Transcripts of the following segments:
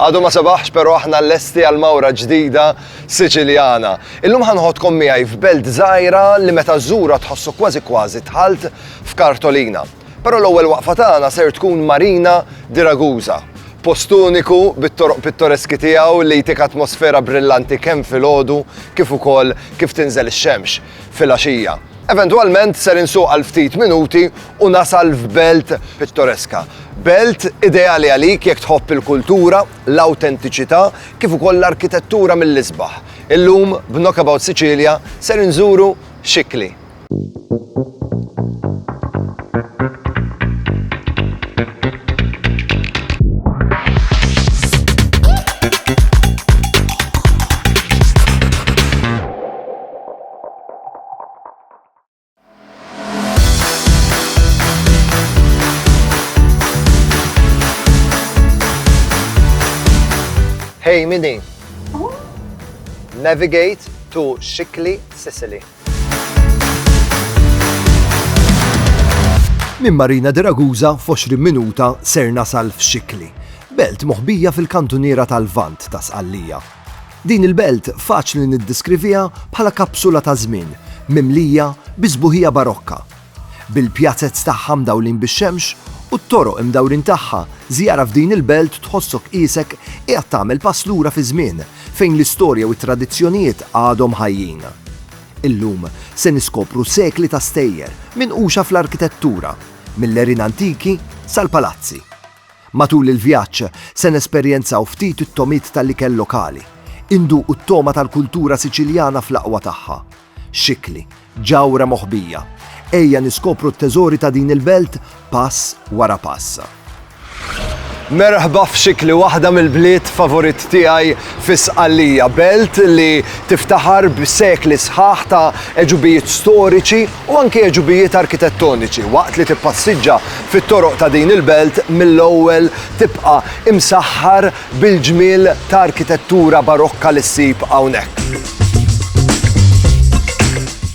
Għadu ma sebaħx pero aħna lesti għal mawra ġdida Siċiljana. Illum ħanħodkom miegħi f'belt żgħira li meta żżura tħossu kważi kważi dħalt f'kartolina. Pero l-ewwel waqfa tagħna ser tkun Marina di Ragusa. Post uniku bit-toroq pittoreski tiegħu li jtik atmosfera brillanti kemm filgħodu kif ukoll kif tinżel ix-xemx. filgħaxija. Eventwalment ser insuq għal ftit minuti u nasal f'belt pittoreska. Belt ideali għalik jekk tħobb il-kultura, l-awtentiċità kif ukoll l-arkitettura mill-isbaħ. Illum b'Knockabout Sicilia ser inżuru Scicli. Hey, Midi. Oh. Navigate to Shikli, Sicily. Min Marina de Ragusa f'20 minuta ser nasal f'Xikli, belt moħbija fil-kantuniera tal-Vant ta' Sqallija. Din il-belt faċli niddeskriviha bħala kapsula ta' żmien mimlija bi sbuħija barokka. Bil-pjazez tagħha mdawlin bix-xemx u t-toroq imdawrin tagħha, żjara f'din il-belt tħossok qiesek qiegħed tagħmel pass lura fiż-żmien fejn l-istorja u t-tradizzjonijiet għadhom ħajjin. Illum se niskopru sekli ta' stejjer minquxa fl-arkitettura, mill-għerien antiki sal-palazzi. Matul il-vjaġġ, se nesperjenzaw ftit it-togħmiet tal-ikel lokali, induqu t-togħma tal-kultura Siċiljana fl-aqwa tagħha. Xikli, ġawhra moħbija, ejja niskopru t-teżori ta' din il-belt pass wara pass. Merħba f'Xikli, waħda mill-bliet favorit tiegħi fi Sqallija, belt li tiftaħar b'sekli sħaħ ta' għeġubijiet storiċi u anki għeġubijiet arkitettoniċi. Waqt li tippassiġġa fit-toroq ta' din il-belt mill-ewwel tibqa' imsaħħar bil-ġmiel ta' arkitettura barokka li ssib hawnhekk.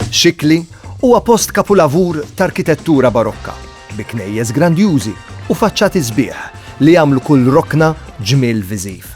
Xikli huwa post kapulavur ta' arkitettura barokka, bi knejjes grandjużi u faċċati sbieħ li jagħmlu kull rokna ġmiel viżiv.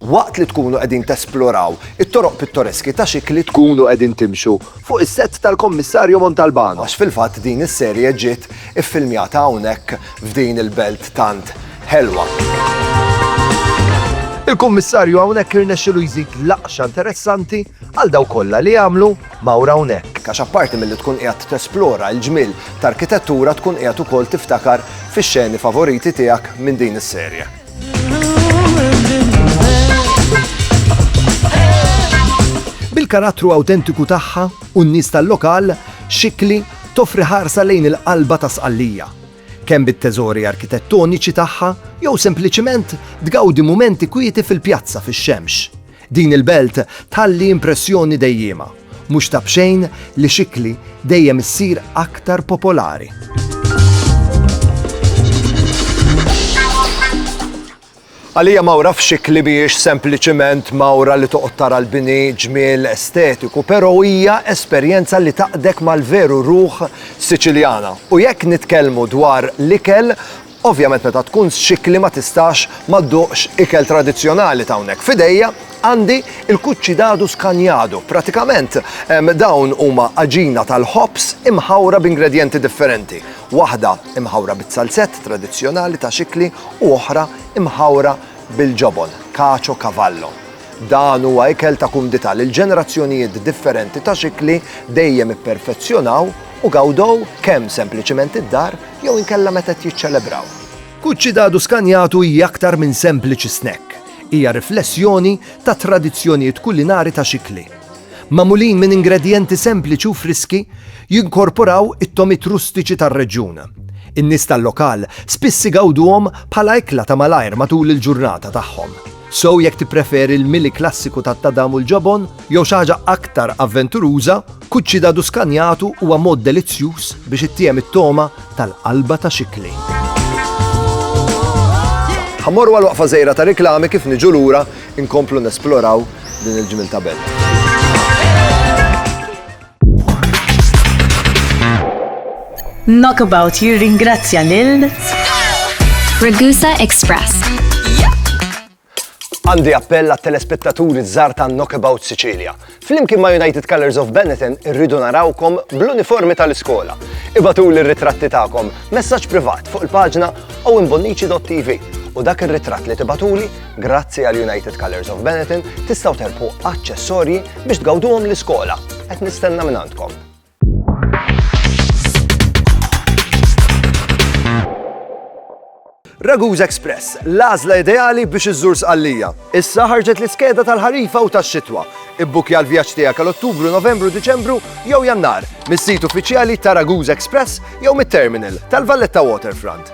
Waqt li tkunu qegħdin tesploraw it-toroq pittoreski ta' Xikli tkunu qegħdin timxu fuq is-sett tal-Kommissarju Montalbano. Għax fil-fatt din is-serje ġiet iffilmjata hawnhekk f'din il-belt tant ħelwa. Il-Kummissarju hawnhekk irnexxilu jżid laqxa interessanti għal dawk kollha li jagħmlu mawra hawnhekk. Għax apparti milli tkun qiegħed tesplora l-ġmiel ta' arkitettura tkun qiegħed ukoll tiftakar fix-xeni favoriti tiegħek minn din is-serje. Bil-karattru awtentiku tagħha u n-nies tal-lokal, xikli toffri ħarsa lejn il-qalba ta' sqallija. Kemm bit-teżori arkitettoniċi tagħha jew sempliċiment tgawdi mumenti kwieti fil-pjazza fix-xemx. Din il-belt tħalli impressjoni dejjiema, mhux ta' b'xejn li Xikli dejjem issir aktar popolari. Għalija mawra f'Xikli mhijiex sempliċiment mawra li toqgħod tara l-bini ġmiel estetiku, però hija esperjenza li taqdek mal-veru ruħ Siċiljana. U jekk nitkellmu dwar l-ikel, Ovvjament meta tkun txikkli ma tistax ma dduqx ikel tradizzjonali t'hawnhekk. F'idejja għandi l-cuccidadu scagnado. Pratikament dawn huma għaġina tal-ħobż imħawra b'ingredjenti differenti. Waħda imħawra biz-zalzett tradizzjonali ta' xikkli u oħra imħawra bil-ġobon, cacio cavallo. Dan huwa ikel ta' kumdità lil ġenerazzjonijiet differenti ta' xikli dejjem ipperfezzjonaw u gawdew kemm sempliċiment id-dar jew inkella meta qed jiċċelebraw. Cuccidadu Scanjato hija aktar minn sempliċi snack. Hija riflessjoni ta' tradizzjonijiet kulinari ta' xikli. Magħmulin minn ingredjenti sempliċi u friski, jinkorporaw it-togħmiet rustiċi tar-reġjun. In-nies tal-lokal spiss igawduhom bħala ekla ta' malajr matul il-ġurnata tagħhom. So jekk tippreferi l-mili klassiku tat-tadam u l-ġobon jew xi ħaġa aktar avventuruża, cuccidadu scanjato huwa mod delizzjuż biex ittiehem it-togħma tal-qalba ta' xi kli. Ħammorru għal waqfa żgħira ta' riklami kif niġu lura inkomplu nesploraw din il-ġmil ta' belt. Knockabout jirringrazzja lil Ragusa Express. Għandi appell għat telespettaturi żar ta' Knockabout Sicilia. Flimkien ma' United Colors of Benetton irridu narawkom bl-uniformi tal-iskola. Ibatu l-ritratti tagħkom messaġġ privat fuq il-paġna u imbonnici.tv u dak ir-ritratt li tibatuli Grazzi għal United Colors of Benetton tistgħu terbħu aċċessorji biex tgawduhom l-iskola. Qed nistenna minn għandkom. Raguz Express, l-għażla ideali biex iżżur sqallija. Issa ħarġet l-iskeda tal-ħarifa u tax-xitwa. Ibbukja l-vjaġġ tiegħek għal Ottubru, Novembru, Diċembru jew Jannar mis-sit uffiċjali ta' Raguz Express jew mit-terminal tal-Valletta Waterfront.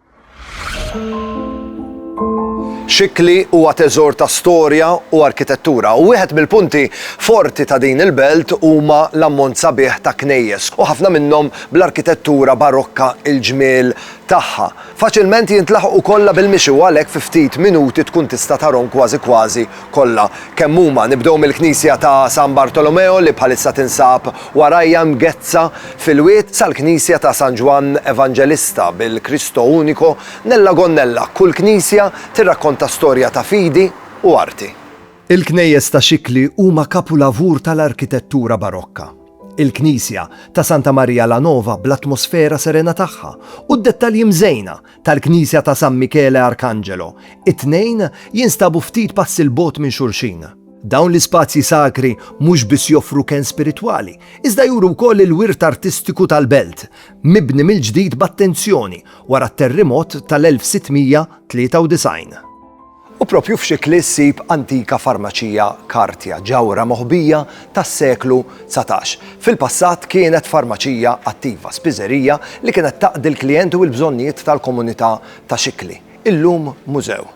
Xikli huwa teżor ta' storja u arkitettura u wieħed mill-punti forti ta' din il-belt huma l-ammont sabiħ ta' knejjes u ħafna minnhom bl-arkitettura barokka il-ġmiel tagħha faċilment jintlaħqu kollha bil-mixi u għalhekk fi ftit minuti tkun tista' tarhom kważi kważi kollha kemm huma. Nibdew mill-knisja ta' San Bartolomeo li bħalissa tinsab warajja mgezzha fil-wied sal-knisja ta' San Ġwann Evanġelista bil-Cristo Unico nella gonnella. Kull knisja tirrakkonta storja ta' fidi u arti. Il-knejjes ta' Xikli huma kapulavur tal-arkitettura Barokka. Il-knisja ta' Santa Maria la Nova bl-atmosfera serena tagħha u d-dettalji mżejna tal-Knisja ta' San Michele Arcangelo, it-tnejn jinstabu ftit passi 'l bogħod minn xulxin. Dawn l-ispazji sakri mhux biss joffru kenn spiritwali, iżda juru wkoll il-wirt artistiku tal-belt, mibni mill-ġdid b'attenzjoni wara t-terrimot tal-1693. U proprju f'Xikli ssib antika farmaċija Kartja, ġawhra moħbija tas-seklu dsatax. Fil-passat kienet farmaċija attiva, spiżerija li kienet taqdi l-klijenti u l-bżonnijiet tal-komunità ta' Xikli. Illum mużew.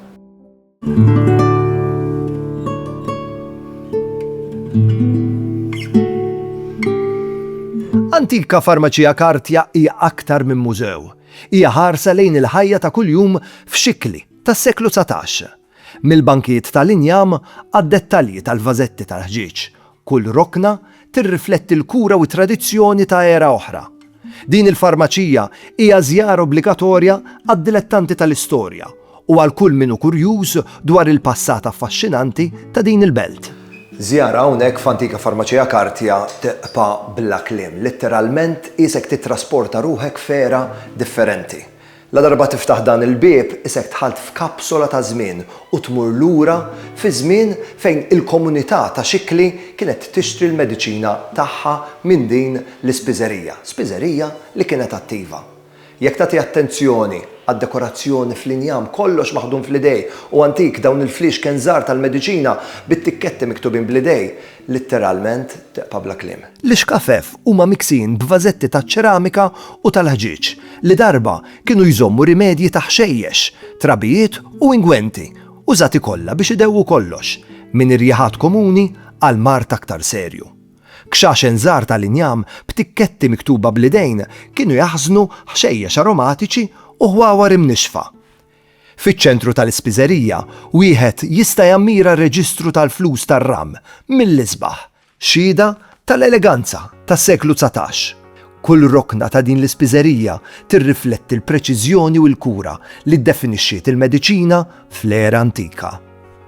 Antika farmaċija Kartja hija aktar minn mużew. Hija ħarsa lejn il-ħajja ta' kuljum f'Xikli. tas-seklu dsatax, mill-bankijiet tal-injam għad-dettalji tal-vażetti tal-ħġieġ, kull rokna tirrifletti l-kura u t-tradizzjoni ta' era oħra. Din il-farmaċija hija żjara obbligatorja għad-dilettanti tal-istorja u għal kull min hu kurjuż dwar il-passat affaxxinanti ta' din il-belt. Żjara hawnhekk f'antika farmaċija kartja tibqa' bla kliem, litteralment qiesek tittrasporta ruħek f'era differenti. Ladarba tiftaħ dan il-bieb isek dħalt f'kapsola ta' żmien u tmur lura fi żmien fejn il-komunità ta' Xikli kienet tixtri l-mediċina tagħha minn din l-ispiżerija, spiżerija li kienet attiva. Jekk tagħti attenzjoni għad-dekorazzjoni fl-injam kollox maħdum fl-idej u antik dawn il-fliexken żgħar tal-mediċina bit-tikketti miktubin bl-idej, Litteralment teqpa' bla kliem. L-ixkafef huma miksijin b'vażetti taċ-ċeramika u tal-ħġieġ li darba kienu jżommu rimedji ta' ħxejjex, trabijiet u ingwenti, użati kollha biex idewwu kollox, minn irjaħat komuni għal mard aktar serju. Kxaxen żgħar tal-injam b'tikketti miktuba bl-idejn kienu jaħżnu ħxejjex aromatiċi u ħwawar imnixxfa. Fiċ-ċentru tal-ispiżerija wieħed jista' jammira r-reġistru tal-flus tar-ram mill-isbaħ, xhieda tal-eleganza tas-seklu dsatax. Kull rokna ta' din l-ispiżerija tirrifletti l-preċiżjoni u l-kura li ddefinixxiet il-mediċina fl-era antika.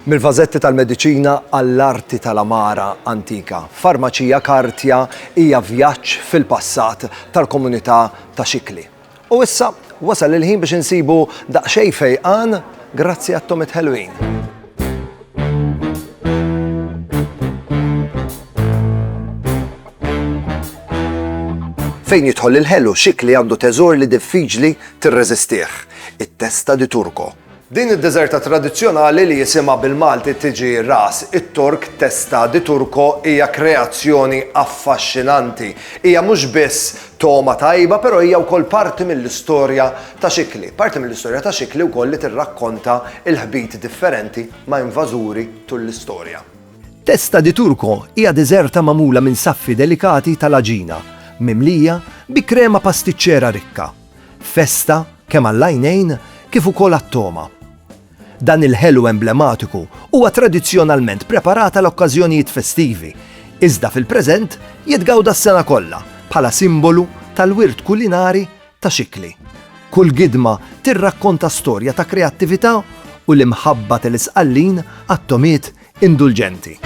Mill-vażetti tal-mediċina għall-arti tal-għamara antika, Farmacia Cartia hija vjaġġ fil-passat tal-komunità ta' Xikli. U issa, wasal il-ħin biex insibu daqsxejn fejqan grazzi għat-tomiet ħelwin. Fejn jidħol il-ħelu, xikli għandu teżor li diffiċli tirreżistih, it-testa di Turco. Din id-deżerta tradizzjonali li jisimha bil-Malti tiġi Ras it-Tork Testa di Turco hija kreazzjoni affaxxinanti. Hija mhux biss togħma tajba però hija wkoll parti mill-istorja ta' Xikli. Parti mill-istorja ta' Xikli wkoll li tirrakkonta l-ħbit differenti ma' invażuri tul l-istorja. Testa di Turco hija deżerta magħmula minn saffi delikati tal-għaġina, mimlija bi krema pastiċċera rikka. Festa kemm għall-għajnejn kif ukoll għat-togħma. Dan il-ħelu emblematiku huwa tradizzjonalment preparat għal okkażjonijiet festivi, iżda fil-preżent jitgawda s-sena kollha bħala simbolu tal-wirt kulinari ta' Xikli. Kull gidma tirrakkonta storja ta' kreattività u l-imħabba tal-Isqallin għat-togħmiet indulġenti.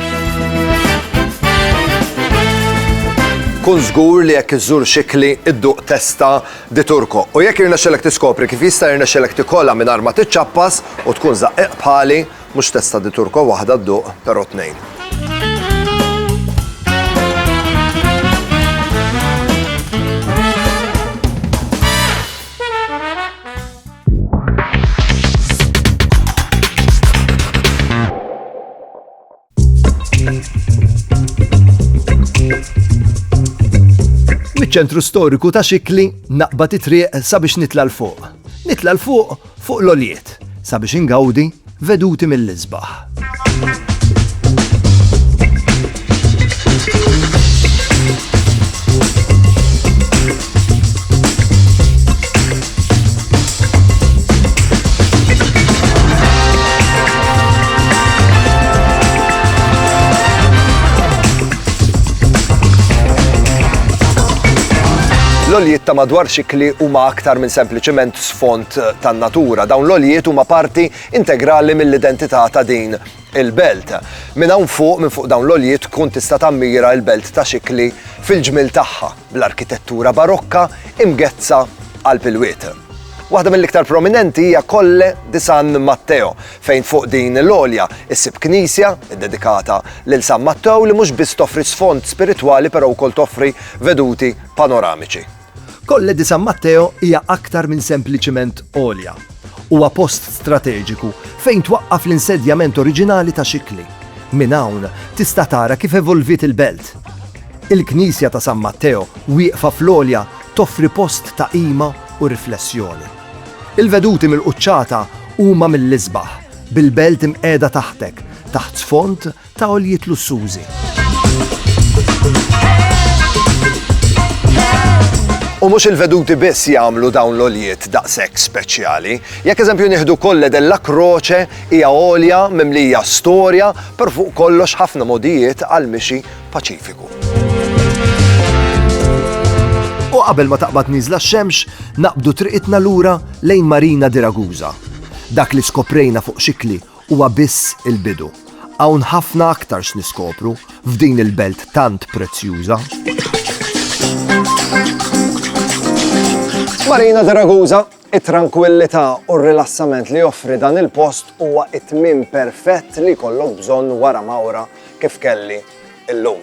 Kun żgur li jekk iżżur xikli idduq testa di Turco u jekk irnexxelek tiskopri kif jista' jirnexxelek tikolha mingħajr ma tiċċappas u tkun żaqqieq bħali, mhux testa di Turco waħda dduq, però tnejn. Miċ-ċentru storiku ta' xikli naqbad it-triq sabiex nitla' l-fuq. Nitla' l-fuq fuq l-oljiet sabiex ingawdi Veduti mill-isbaħ. L-oljiet ta' madwar xikli huma aktar minn sempliċement sfond fil-fatt tan-natura. Dawn l-għoljiet huma parti integrali mill-identità ta' din il-belt. Minn hawn fuq, minn fuq dawn l-għoljiet tkun tista' tammira l-belt ta' Xikli fil-ġmiel tagħha, bl-arkitettura barokka imgezzha qalb il-wied. Waħda mill-iktar prominenti hija Colle di San Matteo, fejn fuq din l-għolja issib knisja ddedikata lil San Matteo li mhux biss toffri sfond spiritwali però wkoll toffri veduti panoramiċi. Colle di San Matteo hija aktar minn sempliċiment għolja. Huwa post strateġiku fejn twaqqaf l-insedjament oriġinali ta' Xikli. Minn hawn tista' tara kif evolviet il-belt. Il-Knisja ta' San Matteo, wieqfa fl-għolja, toffri post ta' qima u riflessjoni. Il-veduti mill-quċċata huma mill-isbaħ, bil-belt imqiegħda taħtek, taħt sfond ta' għoljiet lussużi. U mhux il-veduti biss jagħmlu dawn l-oljiet daqshekk speċjali. Jekk eżempju nieħdu kolle della kroċe hija olja mimlija storja per fuq kollox ħafna modijiet għal mixi paċifiku. U qabel ma taqbad niżla x-xemx, naqbdu triqitna lura lejn Marina di Ragusa. Dak li skoprejna fuq xikli huwa biss il-bidu. Hawn ħafna aktar x'niskopru f'din il-belt tant prezzjuża. Marina de Ragusa, it-trankwillità u r-rilassament li joffri dan il-post huwa it-tmiem perfett li jkollok bżonn wara mawra kif kelli illum.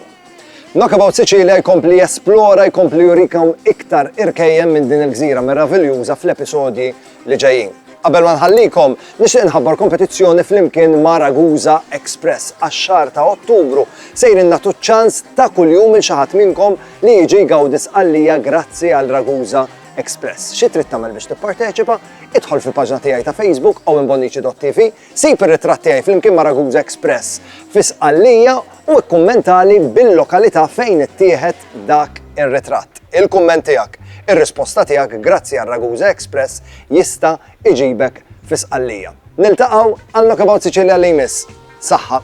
Knockabout Sicilia jkompli jesplora, jkompli jurikom iktar irkejjem minn din il-gżira meraviljuża fl-episodji li ġejjin. Qabel ma nħallikom, nixtieq nħabbar kompetizzjoni flimkien ma' Ragusa Express għax-xahar ta' Ottubru sejrin nagħtu ċans ta' kuljum il xi ħadd minnkom li jiġi jgawdi sqallija grazzi għal Ragusa Express. Xi trid tagħmel biex tipparteċipa? Idħol fil-paġna tiegħi ta' Facebook owenbonnici.tv Sib ir-ritratt tiegħi flimkien ma' Ragusa Express fi Sqallija u kkummentali bil-lokalità fejn ittieħed dak ir-ritratt. Il-kumment tiegħek, ir-risposta tiegħek grazzi għal Ragusa Express jista' iġibek fi Sqallija. Niltaqgħu għal Knockabout Sicilia li jmiss. Saħħa!